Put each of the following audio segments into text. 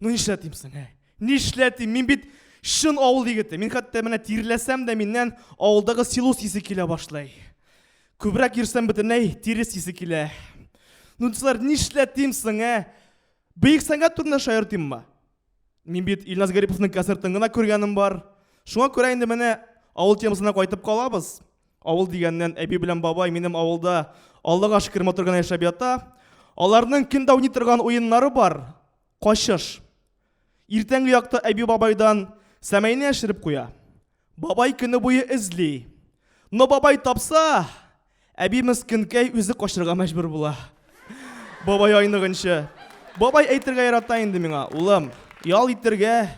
Ну нишләтим соң, ә? Нишләтим? Мин бит чын авыл егете. Мин хәтта менә тирләсәм дә миннән авылдагы силос исе килә башлый. Күбрәк йөрсәм бөтенләй тирес исе килә. Ну дисәләр, нишләтим соң, ә? Бөек сәнгать турында шаяртыйммы? Мин бит Илназ Гариповның концертын гына күргәнем бар. Шуңа күрә инде менә авыл темасына кайтып калабыз. Авыл дигәннән, әби белән бабай минем авылда Аллага шөкер матур гына яшәп ята. Аларның көн дә уйный торган уеннары бар. Качыш. Иртәнге якта әби бабайдан сәмәйне яшереп куя. Бабай көне буе эзли. Но бабай тапса, әби мескенкәй үзе качырга мәҗбүр була. Бабай айныгынчы. Бабай әйтергә ярата инде миңа, улым, ял итергә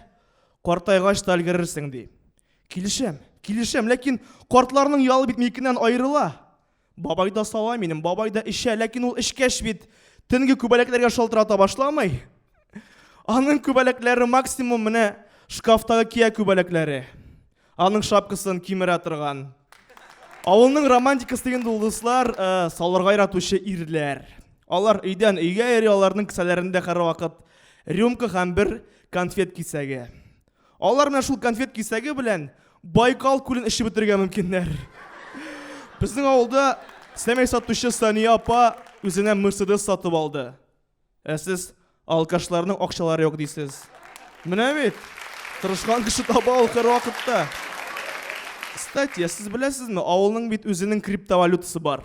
картайгач та өлгерерсең, ди. Килешәм, килешәм, ләкин картларның ялы бит минекеннән аерыла. Бабай да сала минем, бабай да эчә, ләкин ул эчкәч бит төнге күбәләкләргә шалтырата башламый. Аның күбәләкләре максимум менә шкафтагы кия күбәләкләре. Аның шапкасын кимерә торган. Авылның романтикасы дигәндә ул дуслар э, салырга яратучы ирләр. Алар өйдән өйгә йөри, аларның кесәләрендә һәрвакыт рюмка һәм бер конфет кисәге. Алар менә шул конфет кисәге белән Байкал күлен эчеп бетерергә мөмкиннәр. Безнең авылда сәмәй сатучы Сания апа үзенә Мерседес сатып алды. Ә сез алкашларның акчалары юк дисез. Менә бит. Тырышкан кеше таба ул һәрвакытта. Кстати, сез беләсезме, авылның бит үзенең криптовалютасы бар.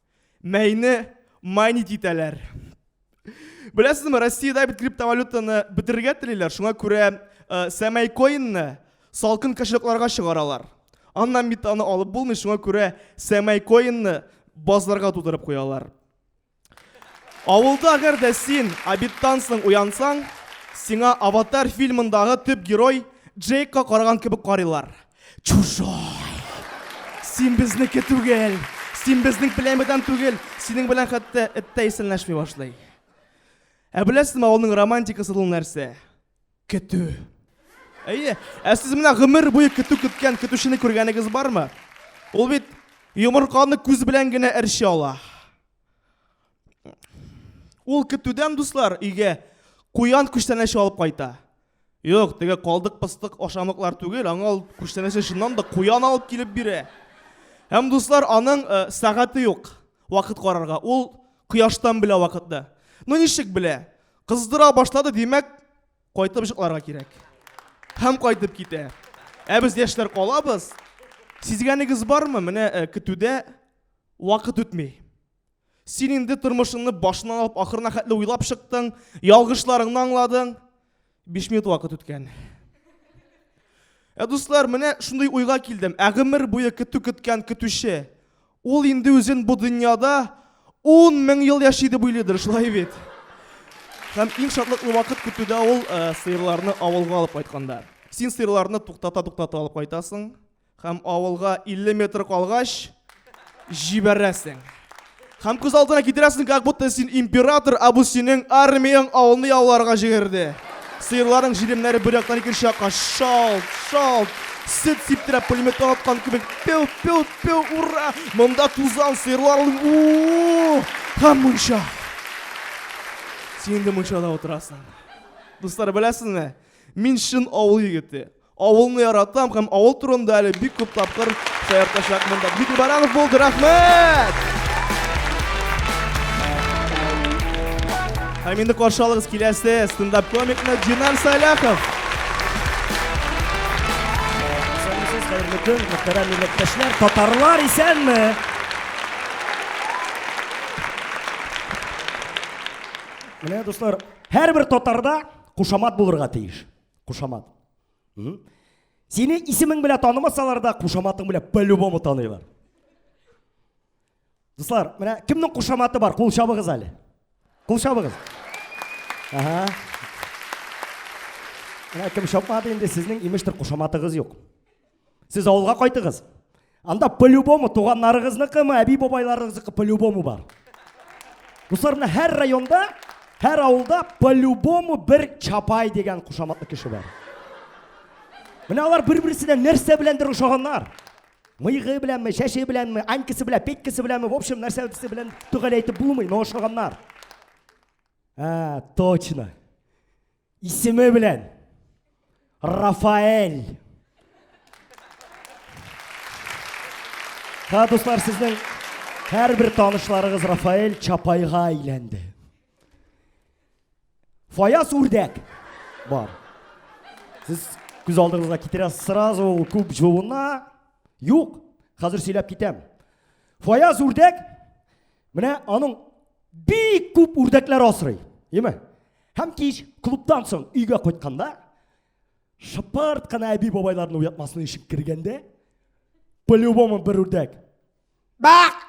Мәйне майнит итәләр. Беләсезме, Россиядә бит криптовалютаны бетерергә телиләр, шуңа күрә э, сәмәй коинны салкын кошелькларга чыгаралар. Аннан бит аны алып булмый, шуңа күрә сәмәй коинны базларга тутырып куялар. Авылда әгәр дә син обедтан соң уянсаң, сиңа Аватар фильмындагы төп герой Джейкка караган кебек карыйлар. Чужой! Син безнеке түгел! Син безнең племядан түгел! Синең белән хәтта эт тә исәнләшми башлый. Ә беләсезме, авылның романтикасы ул нәрсә? Көтү. Әйе, ә сез менә гомер буе көтү көткән көтүчене күргәнегез бармы? Ул бит йомырканы күз белән генә әрчи ала. Ул көтүдән дуслар өйгә куян күчтәнәче алып кайта. Юк, теге калдык пыстык ашамыклар түгел, аңа ул күчтәнәче чыннан да куян алып килеп бирә. Һәм дуслар аның э, сәгате юк вакыт карарга. Ул кояштан белә вакытны. Ну ничек белә? Кыздыра башлады, димәк, кайтып җыкларга кирәк. Һәм кайтып китә. Ә без яшьләр калабыз. Сизгәнегез бармы? Менә э, көтүдә вакыт үтми. Син инде тормышыңны башыннан алып ахырына хәтле уйлап чыктың, ялгышларыңны аңладың. 5 минут вакыт үткән. Ә дуслар, менә шундый уйга килдем. Ә гомер буе көтү көткән көтүче. Ул инде үзен бу дөньяда 10 мең ел яши дип уйлыйдыр, шулай бит. Һәм иң шатлыклы вакыт көтүдә ул э, сыерларны авылга алып кайтканда. Син сыерларны туктата-туктата алып кайтасың. Һәм авылга 50 метр калгач җибәрәсең. Һәм күз алдына китерәсең, как будто син император, а бу синең армияң авылны яуларга җигерде. Сыерларың җилемнәре бер яктан икенче якка шалт, шалт, сөт сиптирә пулемет аткан кебек пеу пеу пеу ура монда тузан сыерлар у һәм мунча син инде мунчада утырасың дуслар беләсезме мин чын авыл егете Авылны яратам һәм авыл турында әле бик күп тапкыр шаяртачак монда. Дмитрий Баранов булды, рәхмәт! Һәм инде каршы алыгыз киләсе стендап комикны Динар Саляхов. Бөтен мөхтәрәм милләттәшләр, татарлар исәнме? Менә дуслар, һәрбер татарда кушамат булырга тиеш. Кушамат. Сине исемең белән танымасалар да, кушаматың белән по-любому таныйлар. Дуслар, менә кемнең кушаматы бар? Кул чабыгыз әле. Кул чабыгыз. Ага. Менә кем чапмады инде, сезнең имештер кушаматыгыз юк. Сез авылга кайтыгыз. Анда по-любому туганнарыгызныкымы, әби-бабайларыгызныкы по-любому бар. Дуслар, менә һәр районда, һәр авылда по-любому бер чапай дигән кушаматлы кеше бар. Менә алар бер-берсенә нәрсә беләндер ошаганнар. Мыйгы беләнме, чәче беләнме, анькасы белән, петькасы беләнме, в общем, нәрсә берсе белән төгәл әйтеп булмый, но ошаганнар. А, точно. Исеме белән Рафаэль. Ха, дуслар, сезнең һәрбер танышларыгыз Рафаэль Чапайга әйләнде. Фаяз үрдәк бар. Сез күз алдыңызга китерәсез сразу ул күп җуына. Юк, хәзер сөйләп китәм. Фаяз үрдәк менә аның бик күп үрдәкләр асрый. Яме? Һәм кич клубтан соң өйгә кайтканда, шыпырт кына әби бабайларны уятмасын ишек кергәндә, по-любому бер үрдәк. Бак!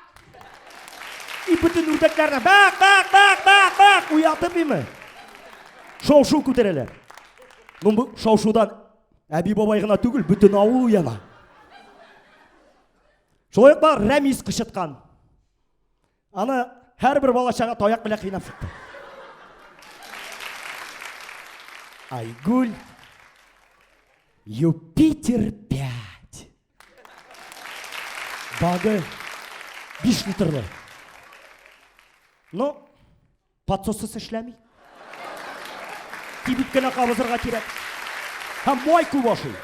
И бөтен үрдәкләрне бак, бак, бак, бак, бак уятып име? Шау-шу күтәрәләр. Ну бу шау-шудан әби бабай гына түгел, бөтен авыл уяна. Шулай ук бар Рәмис кычыткан. Аны һәрбер балачага таяк белән кыйнап чыкты. Айгуль Юпитер 5. Багы 5 литрлы. Ну, Подсоссыз эшләми. Кибит кенә кабызырга кирәк. Һәм май күп ашый.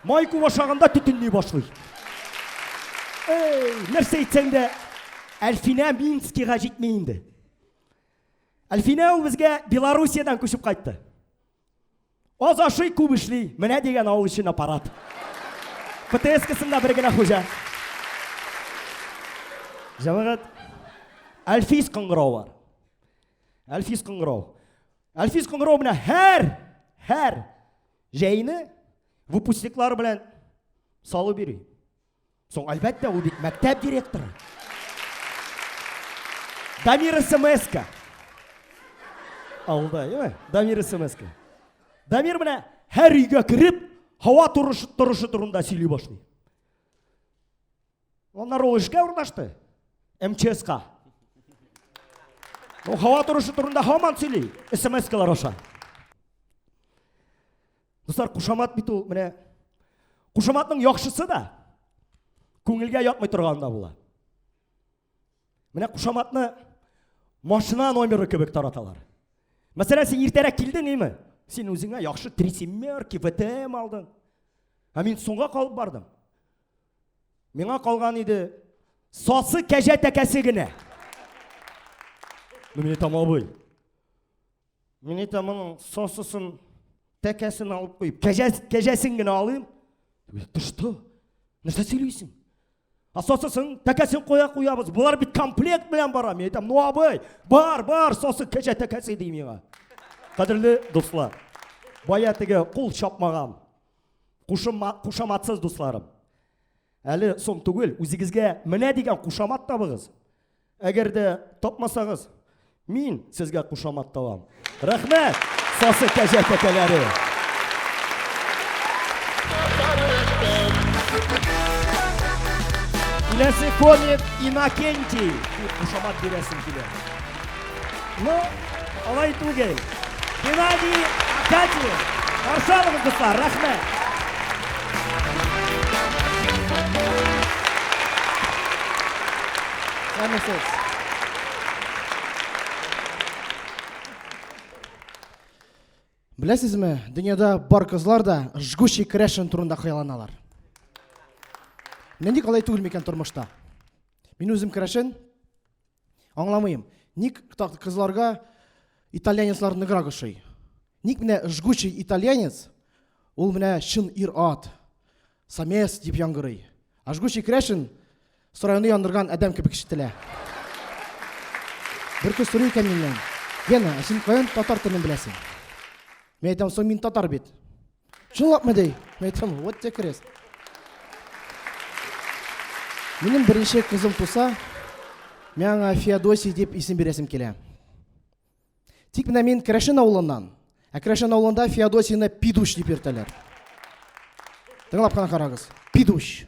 Май күп ашаганда төтенли башлый. Эй, нәрсә әйтсәң дә, Әлфинә Минскига җитми инде. Әлфинә ул безгә Белоруссиядән күчеп кайтты. Аз ашый, күп эшли. Менә дигән авыл өчен аппарат. ПТС-касында бер генә хуҗа. Җәмәгать, Әлфис кыңгырау бар. Әлфис кыңгырау. Әлфис кыңгырау белән һәр, һәр җәйне выпускниклар белән салып йөри. Соң, әлбәттә, ул бит мәктәп директоры. Дамир СМСка. Алда, яме? Дамир СМСка. Дамир менә һәр өйгә кереп, һава торышы торышы турында сөйли башлый. Аннар ул эшкә урнашты. МЧСка. Ул һава торышы турында һаман сөйли. СМСкалар аша. Дуслар, кушамат бит ул менә кушаматның яхшысы да күңелгә ятмый торганы да була. Менә кушаматны машина номеры кебек тараталар. Мәсәлән, син иртәрәк килдең, име? Син үзеңә яхшы трисимерки, ВТМ алдың. Ә мин соңга калып бардым. Миңа калган иде сасы кәҗә тәкәсе генә. Ну, мин әйтәм, абый, Мин әйтәм, моның сосысын, тәкәсен алып куеп, кәҗәсен генә алыйм. Ты что? Нәрсә сөйлисең? А сосысын, тәкәсен куя куябыз. Булар бит комплект белән бара. Мин әйтәм, ну абый, бар, бар, сосы кәҗә тәкәсе ди миңа. Кадерле дуслар, бая теге кул чапмаган, кушаматсыз дусларым. Әле соң түгел, үзегезгә менә дигән кушамат табыгыз. Әгәр дә тапмасагыз, мин сезгә кушамат табам. Рәхмәт, сасы кәҗә тәкәләре! Киләсе комик Инакенти! Дип кушамат бирәсем килә. Ну, Алай түгел. Геннадий Акатьев. Каршы алыгыз, дуслар. Рәхмәт. Рәхмәт. Беләсезме, дөньяда бар кызлар да жгучий крашен турында хыялланалар. Менә ник алай түгел микән тормышта? Мин үзем крашен Аңламыйм, ник так кызларга итальянецлар ныграк ошый? Ник менә жгучий итальянец, ул менә чын ир-ат, самец дип яңгырый. А жгучий крәшен сарайны яндырган адәм кебек ишетелә. Бер кыз сорый икән миннән, Гена, ә син каян татар телен беләсең? Мин әйтәм, соң мин татар бит. Чынлапмы ди? Мин әйтәм, вот те крест. Минем беренче кызым туса, мин аңа Феодосий дип исем бирәсем килә. Тик менә мин Крәшен авылыннан. Ә Крәшен авылында Феодосийны Пидуш дип йөртәләр. Тыңлап кына карагыз. Пидуш.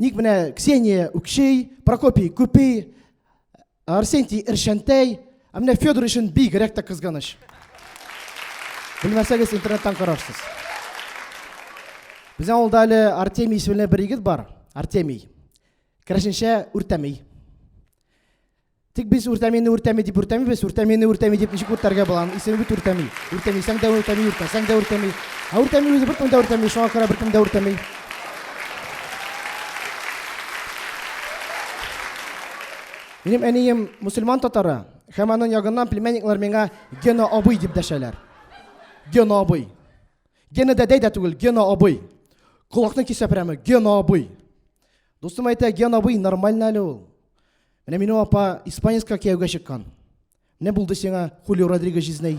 Ник менә Ксения үкшей, Прокопий күпей, Арсентий эршәнтәй, ә менә Федор өчен бигрәк тә кызганыч. Белмәсәгез, интернеттан карарсыз. Безнең авылда әле Артемий исемле бер егет бар. Артемий. Керәшенчә үртәмей. Тик без үртәмине үртәми дип үртәмибез, үртәмине үртәми дип ничек үртәргә була? Аның исеме бит үртәми. Үртәмисәң дә үртәми, үртәсәң дә үртәми. Ә үртәми үзе беркем дә үртәми, шуңа күрә беркем дә үртәми. Минем әнием мусульман татары, һәм аның ягыннан племянниклар миңа Гена абый дип дәшәләр. Гена абый. Гена дәдәй дә түгел, Гена абый. Колакны кисә прямо, Гена абый. Дустым әйтә, Гена абый нормально әле ул. Менә минем апа испанецка кияүгә чыккан. Менә булды сиңа Хулио Родригес җизнәй.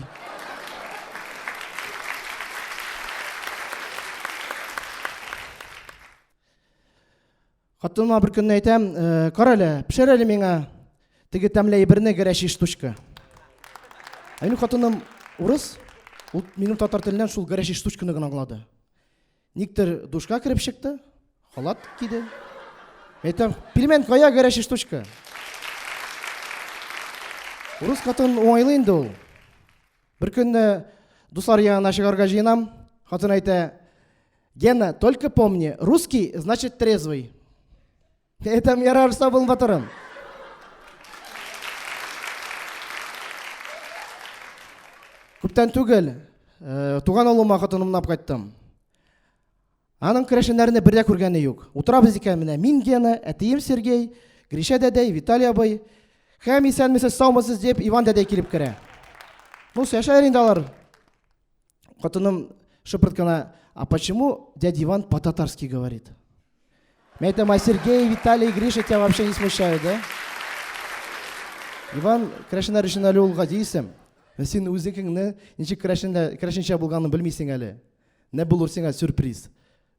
Хатыныма бер көнне әйтәм, «Э, кара әле, пешер әле миңа теге тәмле әйберне гәрәчи штучка. Ә минем хатыным урыс, ул минем татар теленнән шул гәрәчи штучканы гына аңлады. Никтер душка кереп чыкты, халат киде. Әйтәм, пельмен кая горячая штучка? Урыс катын уңайлы инде ул. Бер көнне дуслар янына чыгарга җыенам. Хатын әйтә, Гена, только помни, русский значит трезвый. Әйтәм, ярар, сау бул, батырым. Күптән түгел, э, туган авылыма хатын унап кайттым. Аның керәшеннәрне бер дә күргәне юк. Утырабыз икән менә мин Гена, әтием Сергей, Гриша дәдәй, Виталий абый. Һәм исәнмесез, саумысыз дип Иван дәдәй килеп керә. Ну, яшәр инде алар. Хатыным шыпырт кына, а почему дядя Иван по-татарски говорит? Мен айтам, а Сергей, Виталий, Гриша тебя вообще не смущают, да? Иван, крәшеннәр өчен әле ул гади исем. Син үзеңне ничек крәшендә, крәшенчә булганын белмисең әле. Нә булыр сиңа сюрприз.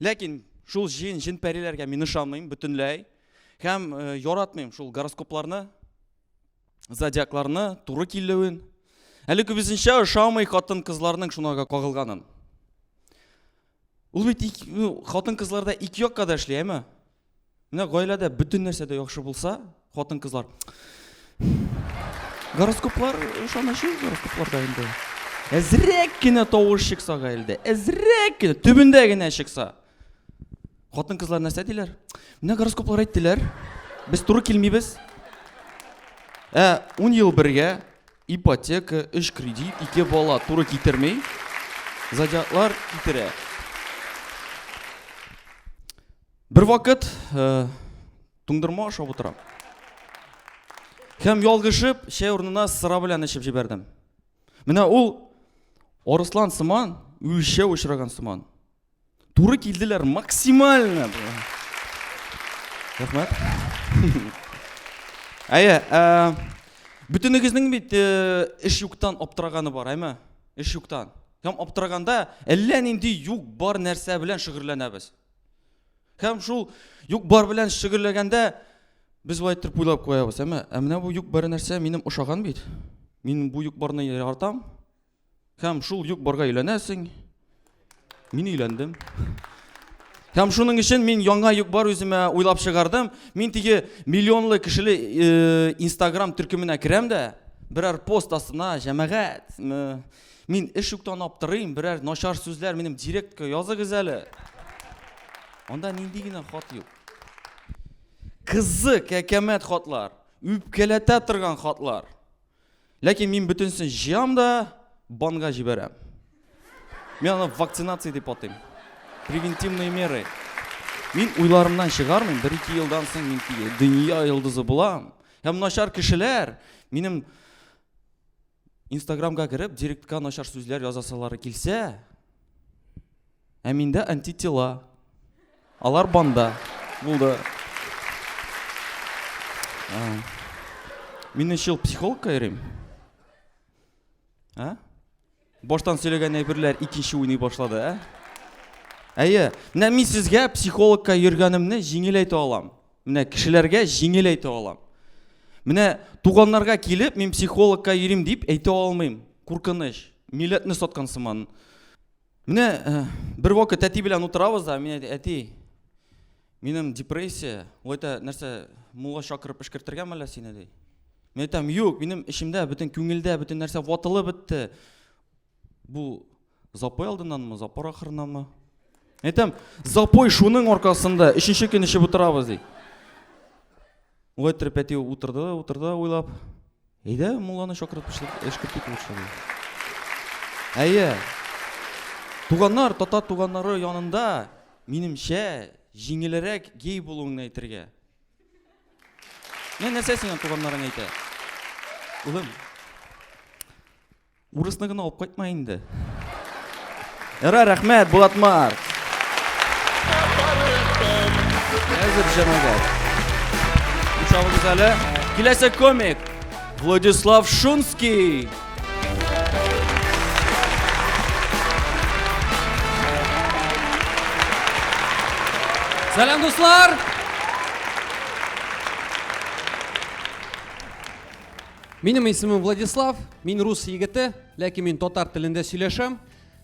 Ләкин шул җин, җин пәриләргә мин ышанмыйм бөтенләй. Һәм э, яратмыйм шул гороскопларны, зодиакларны, туры килүен. Әле күбесенчә ошамый хатын кызларның шунага кагылганын. Ул бит ну, хатын кызларда ике якка да эшли, әйме? Менә гаиләдә бөтен нәрсә дә яхшы булса, хатын-кызлар гороскоплар ышанышы гороскопларда инде. Әзрәк кенә тавыш чыкса гаиләдә, әзрәк кенә төбендә генә чыкса. Хатын-кызлар нәрсә диләр? Менә гороскоплар әйттеләр. Без туры килмибез. Ә 10 ел бергә ипотека, үш кредит, ике бала туры китермей. Зодиаклар китерә. Бер вакыт э, туңдырма ашап утырам. Һәм ялгышып, чәй урынына сыра белән эчеп җибәрдем. Менә ул Орыслан сыман, үлчәү очраган сыман. Туры килделәр максимально. Рәхмәт. Әйе, ә, бөтенегезнең бит э, эш юктан аптыраганы бар, әйме? Эш юктан. Һәм аптыраганда әллә нинди юк бар нәрсә белән шөгырләнәбез. Һәм шул юк-бар белән шөгыльләгәндә без бу әйттереп уйлап куябыз. Әмма ә менә бу юк-бар нәрсә минем ошаган бит. Мин бу юк-барны яратам. Һәм шул юк-барга өйләнәсең. Мин өйләндем. Һәм шуның өчен мин яңа юк-бар үземә уйлап чыгардым. Мин теге миллионлы кешеле э, Instagram төркеменә керәм дә, берәр пост астына җәмәгать, Мин эш юктан аптырыйм, берәр начар сүзләр минем директка языгыз әле. Анда нинди генә хат юк. Кызы кәкәмәт хатлар, үпкәләтә торган хатлар. Ләкин мин бөтенсен җыям да банга җибәрәм. Мин аны вакцинация дип атыйм. Превентивные меры. Мин уйларымнан чыгармыйм, бер ике елдан соң мин дөнья йолдызы булам. Һәм начар кешеләр минем Инстаграмга кереп, директка начар сүзләр язасалары килсә, ә миндә антитела. Алар банда. Булды. Мин өч ел психологка йөрим. Ә? Баштан сөйләгән әйберләр икенче уйный башлады, ә? Әйе, менә мин сезгә психологка йөргәнемне җиңел әйтә алам. Менә кешеләргә җиңел әйтә алам. Менә туганнарга килеп, мин психологка йөрим дип әйтә алмыйм. Куркыныч. Милләтне саткан сыман. Менә э, бер вакыт әти белән утырабыз да, мин әйтә, әти, минем депрессия, ул әйтә, нәрсә, мулла чакырып эшкертергәме әллә сине ди. Мин әйтәм, юк, минем эчемдә бөтен күңелдә бөтен нәрсә ватылып бетте. Бу Запой алдыннанмы, запор ахырынанмы? Әйтәм, запой шуның аркасында, өченче көн эчеп утырабыз, ди. Улай иттереп әти утырды да, утырды да уйлап, әйдә, мулланы чакырып эшкерт итеп утырсын. Әйе. Туганнар, тата туганнары янында, минемчә, җиңелерәк гей булуыңны әйтергә. Менә нәрсә сиңа туганнарың әйтә. Улым, Урысны гына алып кайтма инде. Эра, рәхмәт, Булатмар. Әзер җәмәгать. Учабыз әле. Киләсе комик. Владислав Шунский. Сәлам, дуслар! Минем исемем Владислав, мин рус егете, ләкин мин татар телендә сөйләшәм.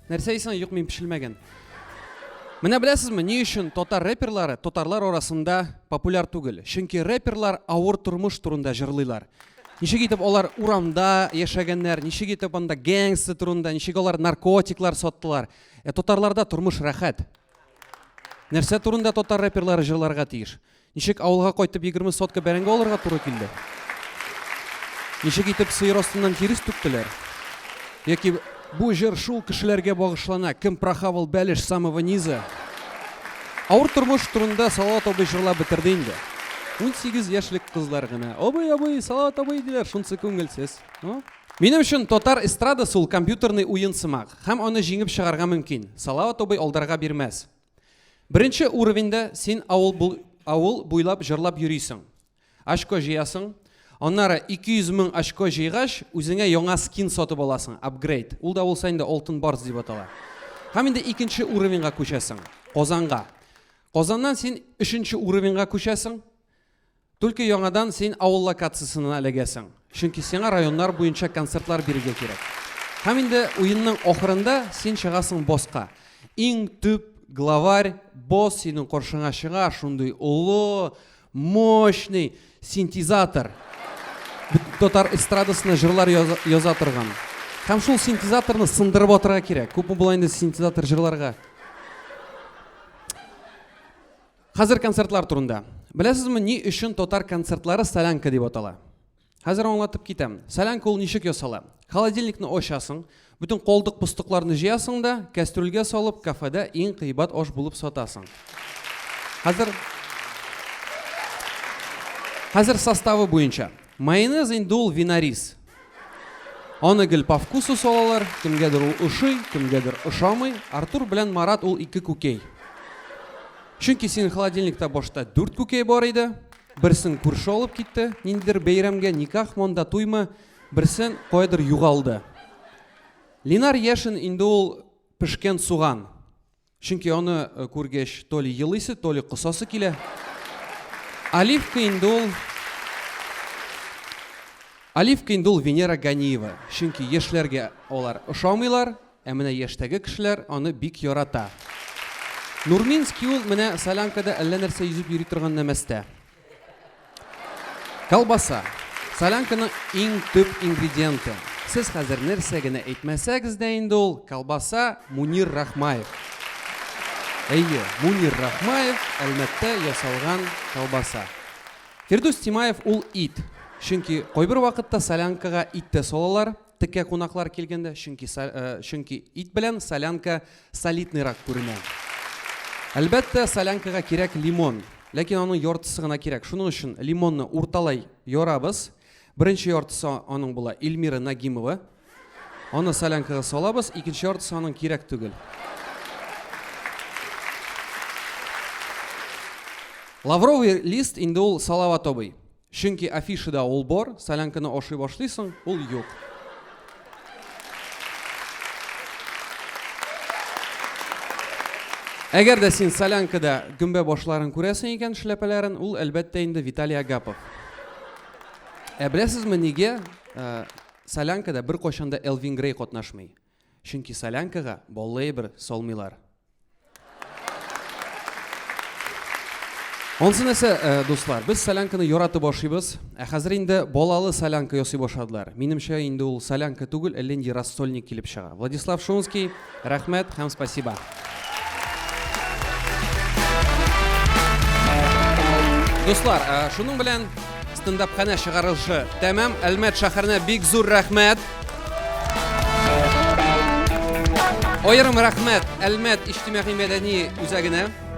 Нәрсә исән, юк мин пешелмәгән. Менә беләсезме, ни өчен татар рэперлары татарлар арасында популяр түгел? Чөнки рэперлар авыр тормыш турында җырлыйлар. Ничек итеп алар урамда яшәгәннәр, ничек итеп анда гэнгсы турында, ничек алар наркотиклар саттылар. Ә татарларда тормыш рәхәт. Нәрсә турында татар рэперлары җырларга тиеш? Ничек авылга кайтып егерме сотка бәрәңге алырга туры килде? Ничек итеп сыер астыннан тирес түктеләр? Яки бу җыр шул кешеләргә багышлана, кем прохавал бәлеш самого низа? Авыр тормыш турында Салават абый җырлап бетерде инде. 18 яшьлек кызлар гына. Абый, абый, Салават абый диләр, шунсы күңелсез. Ну, Минем өчен татар эстрадасы ул компьютерный уен сымак, һәм аны җиңеп чыгарга мөмкин. Салават абый алдарга бирмәс. Беренче уровеньда син авыл, бу, авыл буйлап җырлап йөрисең. Очко җыясың. Аннары 200 мең очко җыйгач, үзеңә яңа скин сатып аласың, апгрейд. Ул да булса инде алтын барс дип атала. Һәм инде икенче уровеньга күчәсең, Казанга. Казаннан син өченче уровеньга күчәсең. Түлке яңадан син авыл локациясенә эләгәсең, чөнки сиңа районнар буенча концертлар бирергә кирәк. Һәм инде уенның ахырында син чыгасың босска. Иң төп главарь босс синең каршыңа чыга, шундый олы, мощный синтезатор. Бөтен татар эстрадасына җырлар яза торган. Һәм шул синтезаторны сындырып атырга кирәк. Күпме була инде синтезатор җырларга? Хәзер концертлар турында. Беләсезме, ни өчен татар концертлары солянка дип атала? Хәзер аңлатып китәм. Солянка ул ничек ясала? Холодильникны ачасың, бөтен колдык пустыкларны җыясың да, кәстрүлгә салып, кафеда иң кыйбат аш булып сатасың. Хәзер Хәзер составы буенча. Майонез инде ул винарис. Аны гел по вкусу салалар, кемгәдер ул ошый, кемгәдер ошамый. Артур белән Марат ул ике күкәй. Чөнки синең холодильникта башта дүрт күкәй бар иде. Берсен күрше алып китте, ниндидер бәйрәмгә, никах монда туймы, берсен каядыр югалды. Линар Яшин инде ул пешкән суган. Чөнки аны э, күргәч, то ли елыйсы, то ли косасы килә. Оливка инде ул Оливка инде ул Венера Ганиева. Чөнки яшьләргә алар ошамыйлар, ә менә яшьтәге кешеләр аны бик ярата. Нурминский ул менә солянкада әллә нәрсә йөзеп йөри торган нәмәстә. Колбаса. Солянканың иң төп ингредиенты. Сез хәзер нәрсә генә әйтмәсәгез дә инде ул, колбаса, Мунир Рахмаев. Әйе, Мунир Рахмаев Әлмәттә ясалган колбаса. Фирдүс Тимаев ул ит. Чөнки кайбер вакытта солянкага ит тә салалар, Текә кунаклар килгәндә, чөнки чөнки ит белән солянка солидныйрак күренә. Әлбәттә, солянкага кирәк лимон. Ләкин аның яртысы гына кирәк. Шуның өчен лимонны урталай ярабыз. Беренче яртысы аның була Эльмира Нагимова. Аны солянкага салабыз, икенче яртысы аның кирәк түгел. Лавровый лист инде ул Салават абый. Чөнки афишада ул бар, солянканы ашый башлыйсың, ул юк. Әгәр дә син солянкада гөмбә башларын күрәсең икән, шляпәләрен, ул әлбәттә инде Виталий Агапов. Ә беләсезме нигә? Э, солянкада бер кайчанда Элвин Грей катнашмый. Чөнки солянкага баллы әйбер салмыйлар. Онсы нәрсә, э, дуслар, без солянканы яратып ашыйбыз, ә хәзер инде балалы солянка ясый башладылар. Минемчә, инде ул солянка түгел, ә ленди рассольник килеп чыга. Владислав Шунский, рәхмәт һәм спасибо. Дуслар, э, шуның белән стендап хәнә чыгарылышы тәмам. Әлмәт шәһәренә бик зур рәхмәт. Аерым рәхмәт Әлмәт иҗтимагый мәдәни үзәгенә.